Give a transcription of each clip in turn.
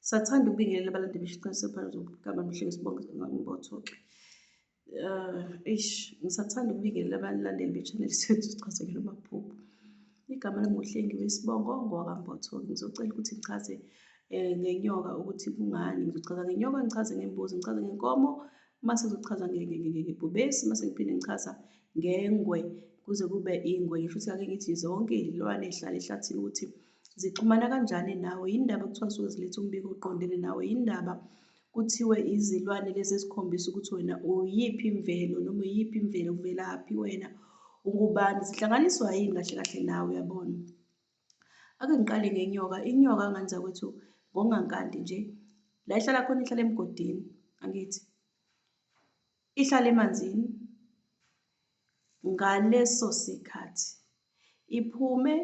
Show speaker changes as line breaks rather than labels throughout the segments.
Sathanda ukubingelela abalandi besho iqiniso phakathi zokugaba mhleke sibonge ngambothoke. Uh, ish, ngisathanda ukubingelela abalandeli be-channel sethu sichazekile umaphupho. Igama lami nguhlengi wesibongo ngowakambotholi. Ngizocela ukuthi ngichaze um ngenyoka ukuthi kungani. Ngizochaza ngenyoka, ngichaze ngembuzi, ngichaze ngenkomo, mase ngizochaza ngebhubesi, mase ngiphinde ngichaza ngengwe kuze kube ingwe. Ngisho ukuthi ake ngithi zonke iy'lwane ey'hlala ehlathini ukuthi Zixhumana kanjani nawe? Yini ndaba kuthiwa zisuke ziletha umbiko oqondene nawe? Yini ndaba kuthiwe izilwane lezi ezikhombisa ukuthi wena uyiphi imvelo noma uyiphi imvelo uvelaphi wena ungubani zihlanganiswa yini kahle kahle nawe uyabona ake ngiqale ngenyoka inyoka nganza kwethu ngongankanti nje la ihlala khona ihlala emgodini angithi Ihlale emanzini ngaleso sikhathi iphume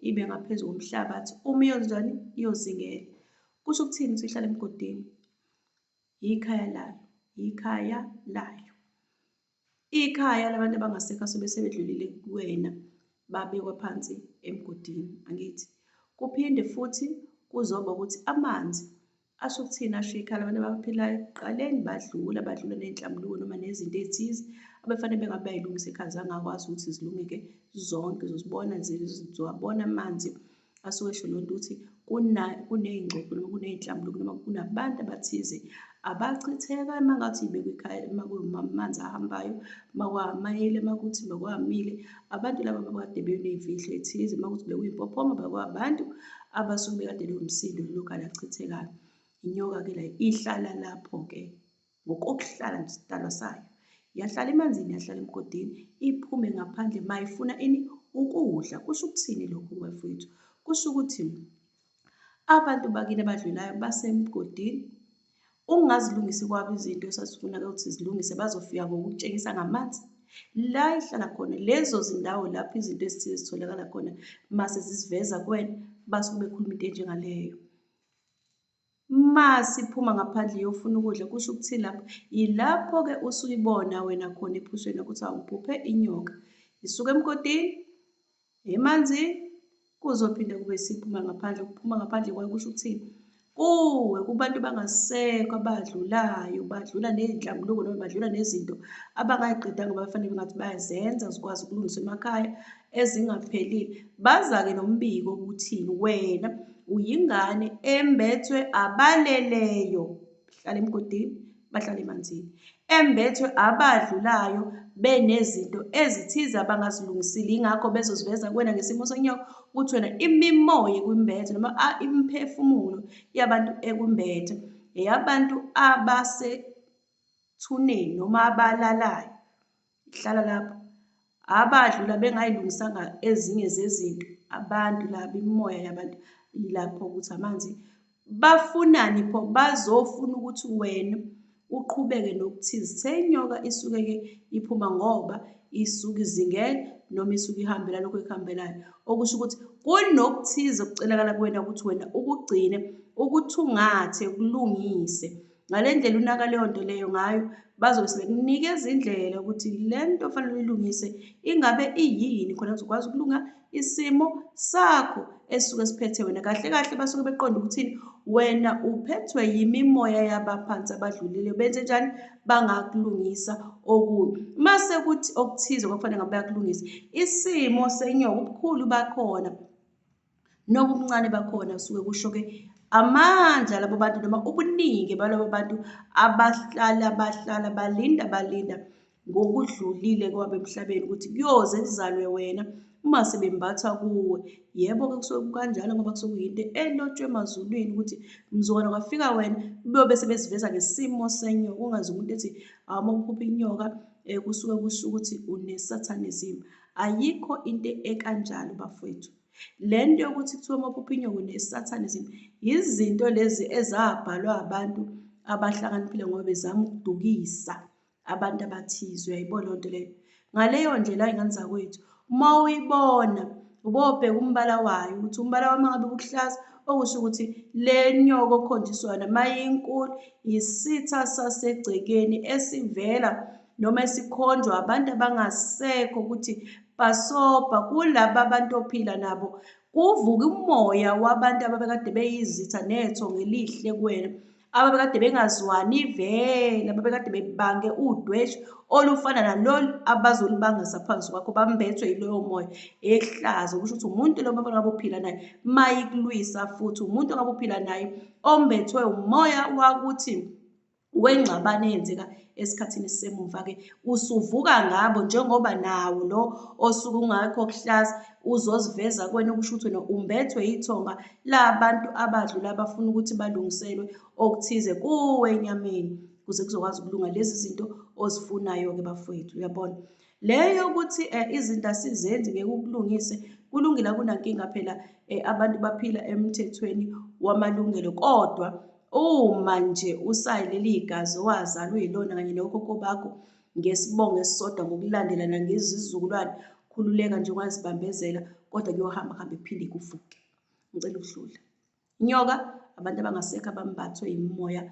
ibe ngaphezu komhlabathi uma iyonjani iyozingela kusho ukuthini ukuthi ihlala emgodini yikhaya layo yikhaya layo ikhaya labantu abangasekho asebesebedlulile kuwena babekwa phansi emgodini angithi kuphinde futhi kuzoba ukuthi amanzi Asho ukuthini asho ikhala abantu abaphilayo ekuqaleni badlula badlula ney'nhlambuluko noma nezinto ey'thize abefanele bengabe bayilungisa ekhaya zangakwazi ukuthi zilungeke zonke zozibona zizowabona amanzi asuke esho loo nto ukuthi kuney'ngxoxo noma kuney'nhlambuluko noma kunabantu abathize abachitheka uma ngathi ibekwe ekhaya uma kumanzi ahambayo uma kwamayele uma kuthi uma kwamile Abantu laba babekade beneyimfihlo ethize uma kuthi bekuyimpophoma bakwabantu abasuke bekade bewumsindo lolokala achithekayo. Inyoka-ke la ihlala lapho-ke ngokokuhlala nesidalwa sayo. Yahlala emanzini, yahlala emgodini, iphume ngaphandle mayifuna ini ukudla. Kusho ukuthini lokho bafowethu? Kusho ukuthi Abantu bakini abadlulayo basemgodini. Ungazilungisi kwabo izinto esasifuna ukuthi zilungise bazofika ngokutshengisa ngamanzi la ihlala khona lezo zindawo lapho izinto ezithile zitholakala khona mase zisiveza kwena basuke bekhuluma into enjengaleyo uma siphuma ngaphandle yofuna ukudla kusho ukuthi lapho yilapho-ke usuyibona wena khona ephusheni ukuthi awuphuphe inyoka isuke emgodini emanzini kuzophinde kube siphuma ngaphandle ukuphuma ngaphandle kwayo kusho ukuthini kuwe kubantu bangasekho abadlulayo badlula nezinhlambuluko noma badlula nezinto abangayqedanga bafanele ngathi bayazenza zikwazi ukulungiswa emakhaya ezingaphelile bazake nombiko ukuthi wena uyingane embethwe abaleleyo hlala emgodini bahlale emanzini embethwe abadlulayo benezinto ezithize abangazilungisile ingakho bezoziveza kuwena ngesimo sonyawo ukuthi wena imimoya ekwimbethe noma imiphefumulo yabantu ekumbethe eyabantu abasethuneni noma abalalayo Hlala lapho. Abadlula bengayilungisanga ezinye zezinto abantu laba imimoya yabantu yilapho ukuthi amanzi bafunani pho bazofuna ukuthi wena uqhubeke nokuthize seyinyoka isuke ke iphuma ngoba isuke izingela noma isuke ihambela lokho ekuhambelayo okusho ukuthi kunokuthize okucelakala kuwena ukuthi wena ukugcine ukuthungathe kulungise Ngale ndlela unaka leyo nto leyo ngayo bazobe sebekunikeza indlela ukuthi le nto fanele uyilungise ingabe iyini khona kuzokwazi ukulunga isimo sakho esisuke siphethe wena kahle kahle basuke beqonda ukuthini wena uphethwe yimimoya yabaphansi abadlulile benze njani bangakulungisa okubi uma sekuthi okuthize kwakufanele ngabe bayakulungisa isimo senyoka ubukhulu bakhona Noku ubuncane bakhona kusuke kusho-ke amandla labo bantu noma ubuningi balabo bantu abahlala bahlala balinda balinda ngokudlulile kwabo emhlabeni ukuthi kuyoze kuzalwe wena uma sebembatha kuwe yebo-ke kusuke kukanjalo ngoba kusuke kuyinto elotshwe emazulwini ukuthi mzukwana kwafika wena kuyobe sebesiveza ngesimo senyo kungazi umuntu ethi awuma kuphupha inyoka um kusuke kusho ukuthi unesathanism Ayikho into ekanjalo bafowethu. Le nto yokuthi kuthiwa amapuphinyoko nesathane izinto yizinto lezi ezabhalwa abantu abahlakaniphile ngoba bezama ukudukisa abantu abathize uyayibona loo nto leyo ngaleyo ndlela ingane zakwethu uma uyibona ubobheka umbala wayo ukuthi umbala wami ngabe bukuhlaza okusho ukuthi le nyoko okhonjiswana mayinkulu yisitha sasegcekeni esivela noma esikhonjwa abantu abangasekho ukuthi basobha kulaba bantu ophila nabo kuvuka umoya wabantu ababekade beyizitha netho ngelihle kuwena ababekade bengazwani vele ababekade bebange udwesh olufana nalolu abazolibangisa phansi kwakho bambethwe yiloyo moya ehlaza kusho ukuthi umuntu lo baba ngabe uphila naye mayikulwisa futhi umuntu ngabe uphila naye ombethwe umoya wakuthi wengxabano eyenzeka esikhathini esisemuva-ke usuvuka ngabo njengoba nawo lo osuke ungakho kuhlaza uzoziveza kwena okusho ukuthi wena umbethwe yithonga labantu abadlula abafuna ukuthi balungiselwe okuthize kuwe enyameni kuze kuzokwazi ukulunga lezi zinto ozifunayo-ke bafowethu uyabona leyo ukuthi um izinto asizenzi ngeke ukulungise kulungile akunankinga phela um abantu baphila emthethweni wamalungelo kodwa Uma nje usayi leli gazi owazalwa uyilona kanye nokhokho bakho ngesibongo esisodwa ngokulandelana ngezizukulwane, khululeka nje ungazibambezela kodwa kuyohamba kuhambe kuphinde kuvuke. Ngicela ukuhlula. Inyoka abantu abangasekho abambathwe yimimoya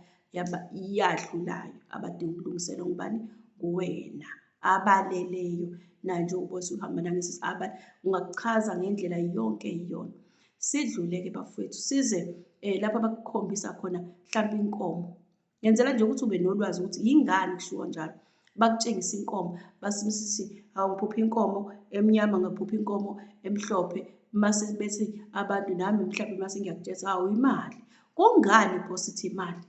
yadlulayo abadinga ukulungiselwa ngubani? Nguwena abaleleyo naye njengoba usuhamba nangesisi abale ungakuchaza ngendlela yonke iyona Sidlule-ke bafowethu size um lapho abakukhombisa khona mhlawumpe inkomo. Ngenzela nje ukuthi ube nolwazi ukuthi yingani kushiwo njalo. Bakutshengisa inkomo, basisithi hawu ngiphupha inkomo emnyama, ngaphupha inkomo emhlophe, mase bethi abantu nami mhlawumbe mase ngiyakutshela hawu imali. Kungani Nkosi ithi imali?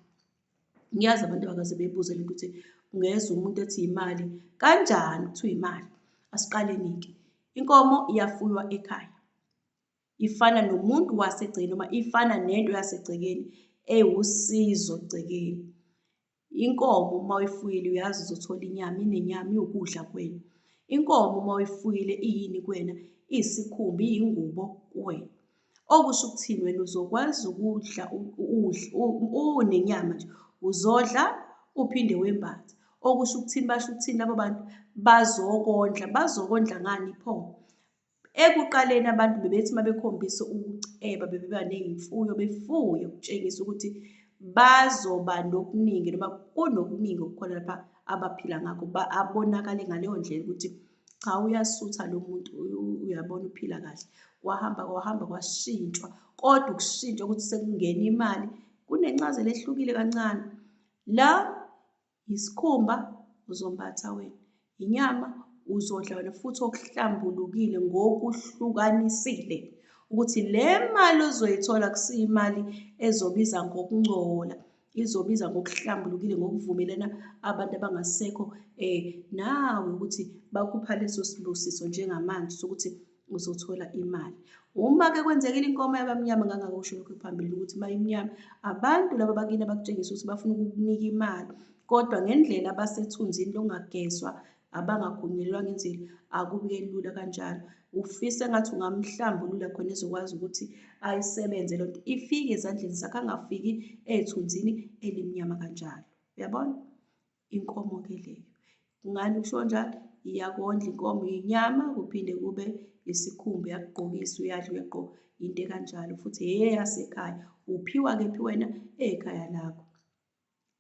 Ngiyazi abantu abakaze bebuze lento ukuthi ungezwa umuntu ethi imali kanjani kuthiwa imali. Asiqaleni-ke. Inkomo iyafuywa ekhaya. ifana nomuntu wasegcekeni noma ifana nento yasegcekeni ewusizo egcekeni. Inkomo uma uyifuyile uyazi uzothola inyama, inenyama iwukudla kwenu. Inkomo uma uyifuyile iyini kwena? Iyisikhumba, iyingubo kuwena. Okusho ukuthini wena uzokwazi ukudla unenyama nje uzodla uphinde wembathe. Okusho ukuthini basho ukuthini labo bantu bazokondla, bazokondla ngani pho? Ekuqaleni abantu bebethi uma bekhombisa ukuceba bebeba ney'mfuyo befuye ukutshengisa ukuthi bazoba nokuningi noma kunokuningi okukhona lapha abaphila ngakho abonakale ngaleyo ndlela ukuthi cha uyasutha lo muntu uyabona uphila kahle kwahamba kwahamba kwashintshwa kodwa ukushintshwa ukuthi sekungena imali kunencazelo ehlukile kancane la Yisikhumba uzombatha wena, yinyama uzodla wena futhi okuhlambulukile ngokuhlukanisile ukuthi le mali ozoyithola kusiyimali ezobiza ngokungcola izobiza ngokuhlambulukile ngokuvumelana abantu abangasekho um nawe ukuthi bakupha leso sibusiso njengamanje sokuthi uzothola imali uma ke kwenzekile inkomo yabamnyama ngangakusho lokho phambili ukuthi bayimnyama abantu laba bakini abakutshengisa ukuthi bafuna ukukunika imali kodwa ngendlela abasethunzini longagezwa abangagunyelwa ngendlela akubuke lula kanjalo ufise ngathi ungamhlambulula khona ezokwazi ukuthi ayisebenze loo nto ifike ezandleni zakhe angafiki ey'thunzini elimnyama kanjalo uyabona inkomo ke leyo. Ngani kusho njalo? Iyakondla inkomo inyama kuphinde kube isikhumba yakugqokisa uyadla uyagqoka into ekanjalo futhi eyeyasekhaya uphiwa kephi wena ekhaya lakho.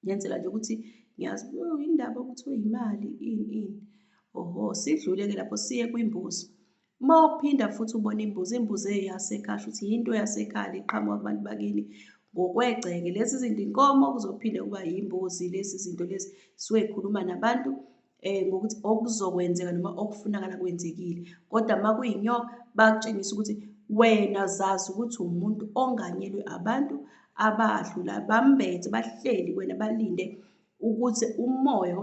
Ngenzela nje ukuthi ngiyazi oh, indaba okuthiwa imali ini ini. Oho, sidlule-ke lapho siye kwimbuzi. Uma uphinda futhi ubona imbuzi, imbuzi eyasekhaya ukuthi yinto yasekhaya le qhamuka kubantu bakini ngokwegceke. Lezi zinto inkomo kuzophinde kuba yimbuzi lezi zinto lezi suke yikhuluma nabantu um ngokuthi okuzokwenzeka noma okufunakala kwenzekile. Kodwa uma kuyinyoka bakutshengisa ukuthi wena zazi ukuthi umuntu onganyelwe abantu abadlula bambethe bahleli kwena balinde ukuthi umoya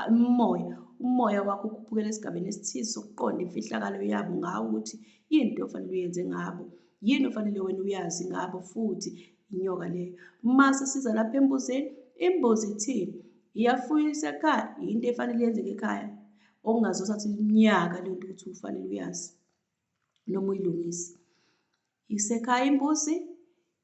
umoya umoya wakho ukhuphukela esigabeni esithize sokuqonda imfihlakalo yabo ngawo ukuthi yini into ofanele uyenze ngabo yini ofanele wena uyazi ngabo futhi inyoka leyo mase siza lapha embuzeni imbuzi ithini iyafuyisa ekhaya yinto efanele yenzeke ekhaya okungazosathi iminyaka lento ukuthi ufanele uyazi noma uyilungise. Isekhaya imbuzi,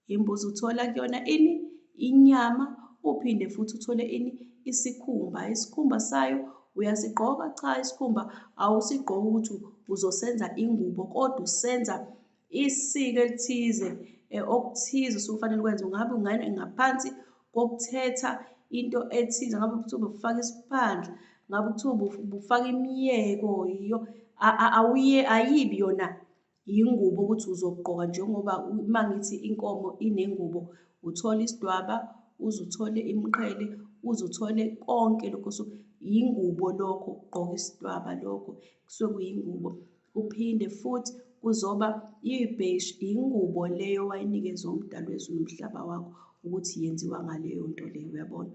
imbuzi uthola kuyona ini? Inyama, uphinde futhi uthole ini? Isikhumba. Isikhumba sayo uyasigqoka? Cha, isikhumba awusigqoki ukuthi uzosenza ingubo, kodwa usenza isiko elithize eh, okuthize usukufanele ukwenze. Ungabe ungane ngaphansi kokuthetha into ethize ngabe kuthiwa ubufaka isiphandla ngabe kuthiwa ubufaka imiyeko yiyo awuye ayibi yona yingubo ukuthi uzogqoka njengoba uma ngithi inkomo inengubo uthole isidwaba uze uthole imqhele uze uthole konke lokho so yingubo lokho ukugqoka isidwaba lokho kusuke kuyingubo. Kuphinde futhi kuzoba ibheshi, yingubo leyo owayinikezwa umdali wezulu umhlaba wakho ukuthi yenziwa ngaleyo nto leyo, uyabona.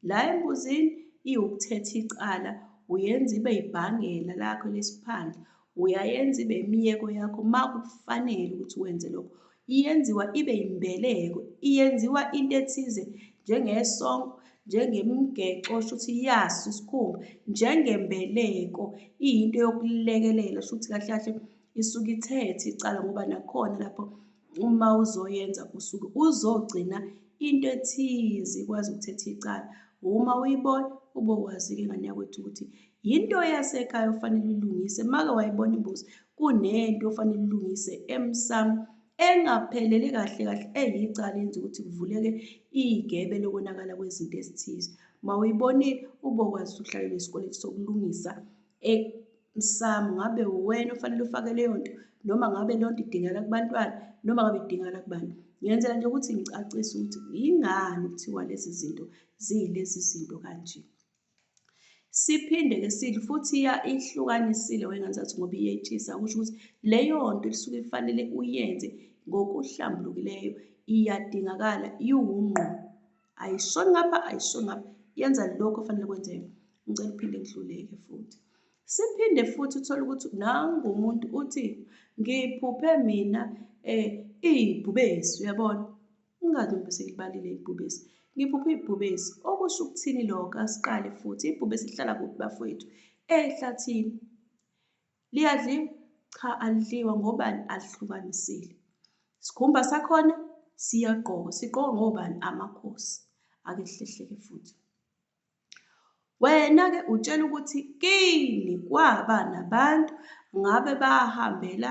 La embuzini iwukuthetha icala, uyenza ibe ibhangela lakho lesiphandla, uyayenza ibe imiyeko yakho uma kufanele ukuthi wenze lokho. Iyenziwa ibe yimbeleko, iyenziwa into ethize njengesongo, njengemigexo shuthi yaso isikhumba, njengembeleko iyinto yokulekelela shuthi kahle kahle isuke ithethe icala ngoba nakhona lapho uma uzoyenza usuke uzogcina into ethize ikwazi ukuthetha icala. Uma uyibona ubokwazi-ke ngane yakwethu ukuthi Yinto yasekhaya ofanele ulungise make wayibona imbuzi kunento ofanele ulungise emsamo engaphelele kahle kahle eyicala yenza ukuthi kuvuleke igebe lokonakala kwezinto ezithize mawuyibonile ubokwazi ukuhlalela isikweletu sokulungisa emsamo ngabe uwena ofanele ufake leyo nto noma ngabe leyo nto idingakala kubantwana noma ngabe idingakala kubantu ngenzela nje ukuthi ngicacise ukuthi yingani kuthiwa lezi zinto ziyilezi zinto kanje Siphinde ke sithi futhi ya ihlukanisile wengane zathi ngoba iyethisa kusho ukuthi leyo nto lisuke ifanele uyenze ngokuhlambulukileyo iyadingakala iwungqo ayishoni ngapha ayishoni ngapha yenza lokho ofanele kwenzeke ngicela uphinde ngihluleke futhi siphinde futhi uthole ukuthi nangu umuntu uthi ngiphuphe mina um iy'bhubesi uyabona Ingabe ngibe sengilibalile ibhubesi? Ngiphuphe ibhubesi. Okusho ukuthini lokho? Asiqale futhi. Ibhubesi lihlala kuphi bafowethu? Ehlathini. Liyadliwa? Cha, alidliwa ngobani? Alihlukanisile. Sikhumba sakhona siyagqoka. Sigqoka ngobani? Amakhosi. Ake sihlehleke futhi. Wena-ke utshela ukuthi kini kwaba nabantu ngabe bahambela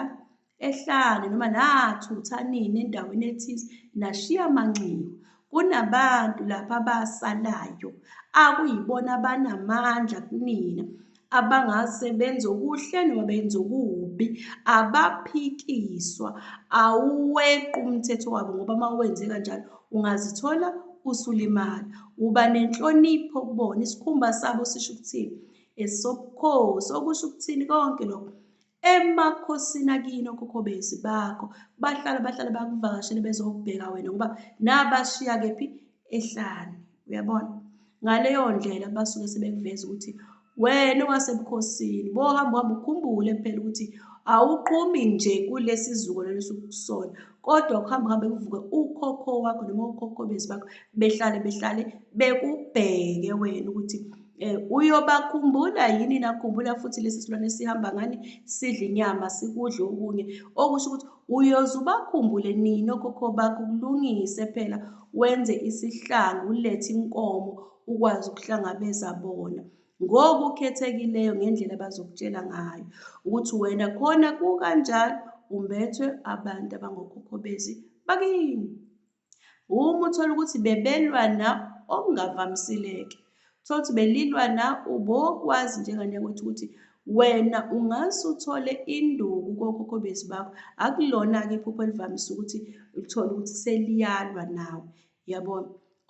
ehlane noma nathutha nini endaweni ethize nashiya amanxiwa. Kunabantu lapha abasalayo akuyibona abanamandla kunina abangase benze okuhle noma benze okubi abaphikiswa awuweqi umthetho wabo ngoba uma wenze kanjalo ungazithola usulimala uba nenhlonipho kubona isikhumba sabo sisho ukuthini esokukhosi okusho ukuthini konke lokho emakhosini akini okhokho bezi bakho bahlala bahlala bakuvakashele bezokubheka wena ngoba nabashiya kephi ehlane uyabona ngaleyo ndlela basuke sebekuveza ukuthi wena owasebukhosini bohamba uhamba ukhumbule phela ukuthi awuqhumi nje kulesi zukulwane esukusona kodwa ukuhamba kuhambe kuvuke ukhokho wakho noma ukhokho bezi bakho behlale behlale bekubheke wena ukuthi um uyobakhumbula yini nakhumbula futhi lesi silwane sihamba ngani sidle inyama sikudle okunye okusho ukuthi uyoze ubakhumbule nini okhokho bakho kulungise phela wenze isihlangu ulethe inkomo ukwazi ukuhlangabeza bona ngokukhethekileyo ngendlela abazokutshela ngayo ukuthi wena khona kukanjalo umbethwe abantu abangokhokho bezi bakini uma uthola ukuthi bebelwana okungavamisileke thola ukuthi belilwana ubokwazi njengane yakwethu ukuthi wena ungase uthole induku kokhokho bezi bakho akulona-ke iphupho elivamise ukuthi uthole ukuthi seliyalwa nawe Yabona?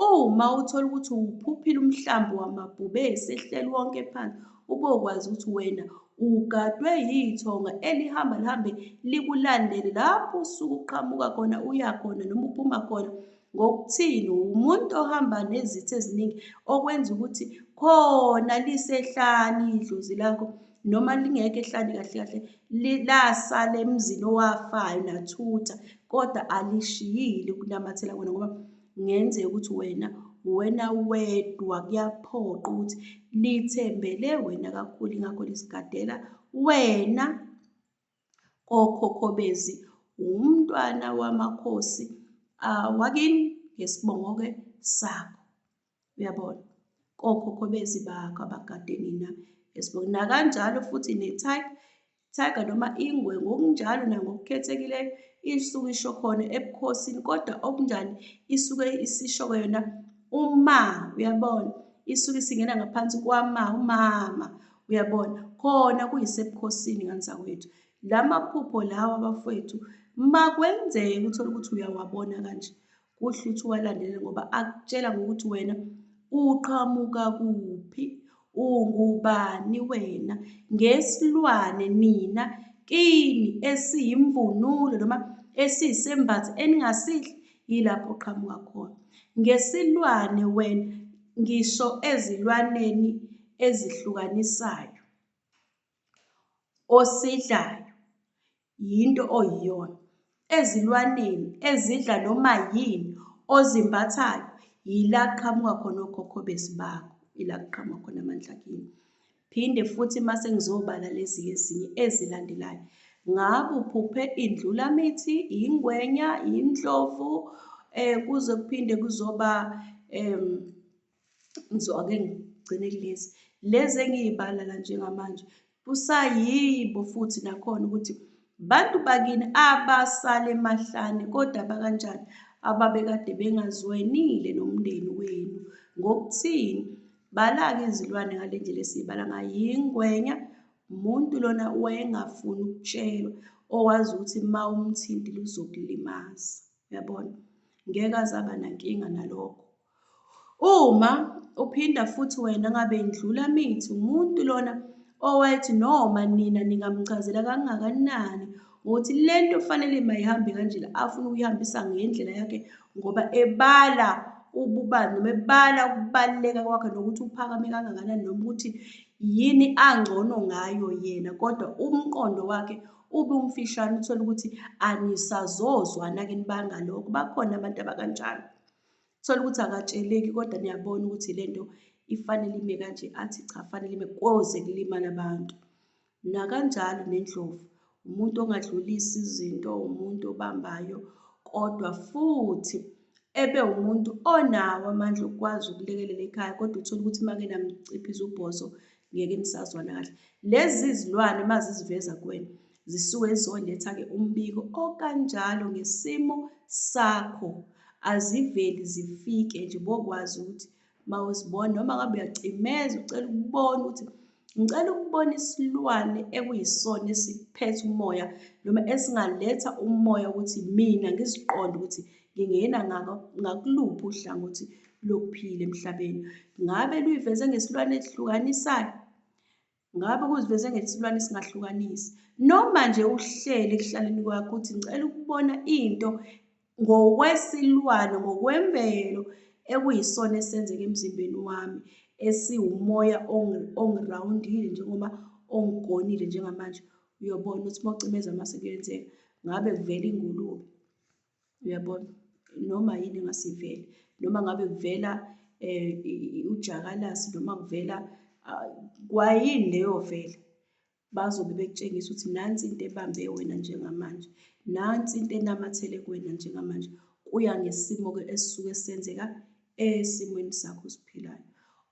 Uma uthola ukuthi uwuphuphile umhlambi wamabhubesi ehleli wonke phansi, ube ukwazi ukuthi wena ugadwe yithonga elihamba lihambe likulandele lapho usuke uqhamuka khona uya khona noma uphuma khona ngokuthini umuntu ohamba nezitha eziningi okwenza ukuthi khona lisehlani idlozi lakho noma lingekho ehlane kahle kahle lasala emzini owafayo nathutha kodwa alishiyile ukunamathela kwena ngoba ngenzeka ukuthi wena wena wedwa kuyaphoqa ukuthi lithembele wena kakhulu ingakho lisigadela wena kokhokhobezi wumntwana wamakhosi awakini ngesibongo-ke sakho Uyabona? Kokhokho bezibakho abakade nina esibuka. Nakanjalo futhi ne-tiger, tiger noma ingwe ngokunjalo nangokukhethekileyo isuke isho khona ebukhosini kodwa okunjani isuke isisho yona uma uyabona isuke isingena ngaphansi kwama umama uyabona khona kuyisebukhosini ngani zakwethu la maphupho lawa bafowethu makwenzeka uthole ukuthi uyawabona kanje Kuhle ukuthi uwalandele ngoba akutshela ngokuthi wena uqhamuka kuphi, ungubani wena, ngesilwane nina kini esiyimvunulo noma esiyisembatho eningasihle yilapho qhamuka khona. Ngesilwane wena ngisho ezilwaneni ezihlukanisayo. Osidlayo yinto oyiyona. Ezilwaneni ezidla noma yini ozimbathayo yila kuqhamuka khona okhokho besi bakho, ila kuqhamuka khona amandla kini. Phinde futhi uma sengizobala lezi ezinye ezilandelayo, ngabe uphuphe indlulamithi, yingwenya, yindlovu, um kuze kuphinde kuzoba um so ake ngigcine kulezi lezi engiyibala la njengamanje kusayibo futhi nakhona ukuthi bantu bakini abasale emahlane kodwa bakanjani ababekade bengazwenile nomndeni wenu ngokuthini balake izilwane ngale ndlela esiyibala ngayo yingwenya umuntu lona wayengafuni ukutshelwa owazi ukuthi uma umthintile uzokulimaza yabona ngeke azaba nankinga nalokho Uma uphinda futhi wena ngabe ndlula mithi umuntu lona owayethi noma nina ningamchazela kangakanani ukuthi lento kufanele mayihambe kanjena afuna ukuyihambisa ngendlela yakhe ngoba ebala ububani noma ebala ukubaluleka kwakhe nokuthi uphakame kangakanani noma ukuthi yini angcono ngayo yena kodwa umqondo wakhe ube umfishane uthole ukuthi anisazozwana-ke nibangalokho bakhona abantu abakanjalo Thola ukuthi akatsheleki kodwa niyabona ukuthi le nto ifanele ime kanje, athi cha fanele ime koze kulimala abantu. Nakanjalo nendlovu, umuntu ongadlulisi izinto, umuntu obambayo, kodwa futhi ebe umuntu onawo amandla okukwazi ukulekelela ekhaya, kodwa uthole ukuthi uma ngenamciphiza ubhozo ngeke nisazwana kahle. Lezi zilwane uma ziziveza kuwena, Zisuke zizoletha-ke umbiko okanjalo ngesimo sakho. Aziveli zifike nje bokwazi ukuthi mawuzibona noma ngabe uyacimeza ucela ukubona ukuthi ngicela ukubona isilwane ekuyisona esiphethe umoya noma esingaletha umoya ukuthi mina ngiziqonde ukuthi ngingena ngakuluphi uhlangothi lokuphila emhlabeni. Ngabe luyiveze ngesilwane esihlukanisayo? Ngabe kuziveze ngesilwane esingahlukanisi. Noma nje uhleli ekuhlaleni kwakho uthi ngicela ukubona into ngokwesilwane ngokwemvelo ekuyisona esenzeka emzimbeni wami esiwumoya ongirawundile njengoba ongigonile njengamanje uyobona ukuthi mawucimeza amase kuyenzeka ngabe kuvela ingulube Uyabona? Noma yini engase ivele. Noma ngabe kuvela um ujakalasi noma kuvela ah, kwayini leyo vele bazobe bekutshengisa ukuthi nansi into ebambe wena njengamanje nansi into enamathele kuwena njengamanje kuya ngesimo-ke esisuke senzeka esimweni sakho osiphilayo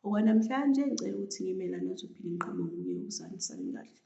okwanamhlanje ngicela ukuthi ngimela nozophinde ngiqhamuke ngiye ukusani sami kahle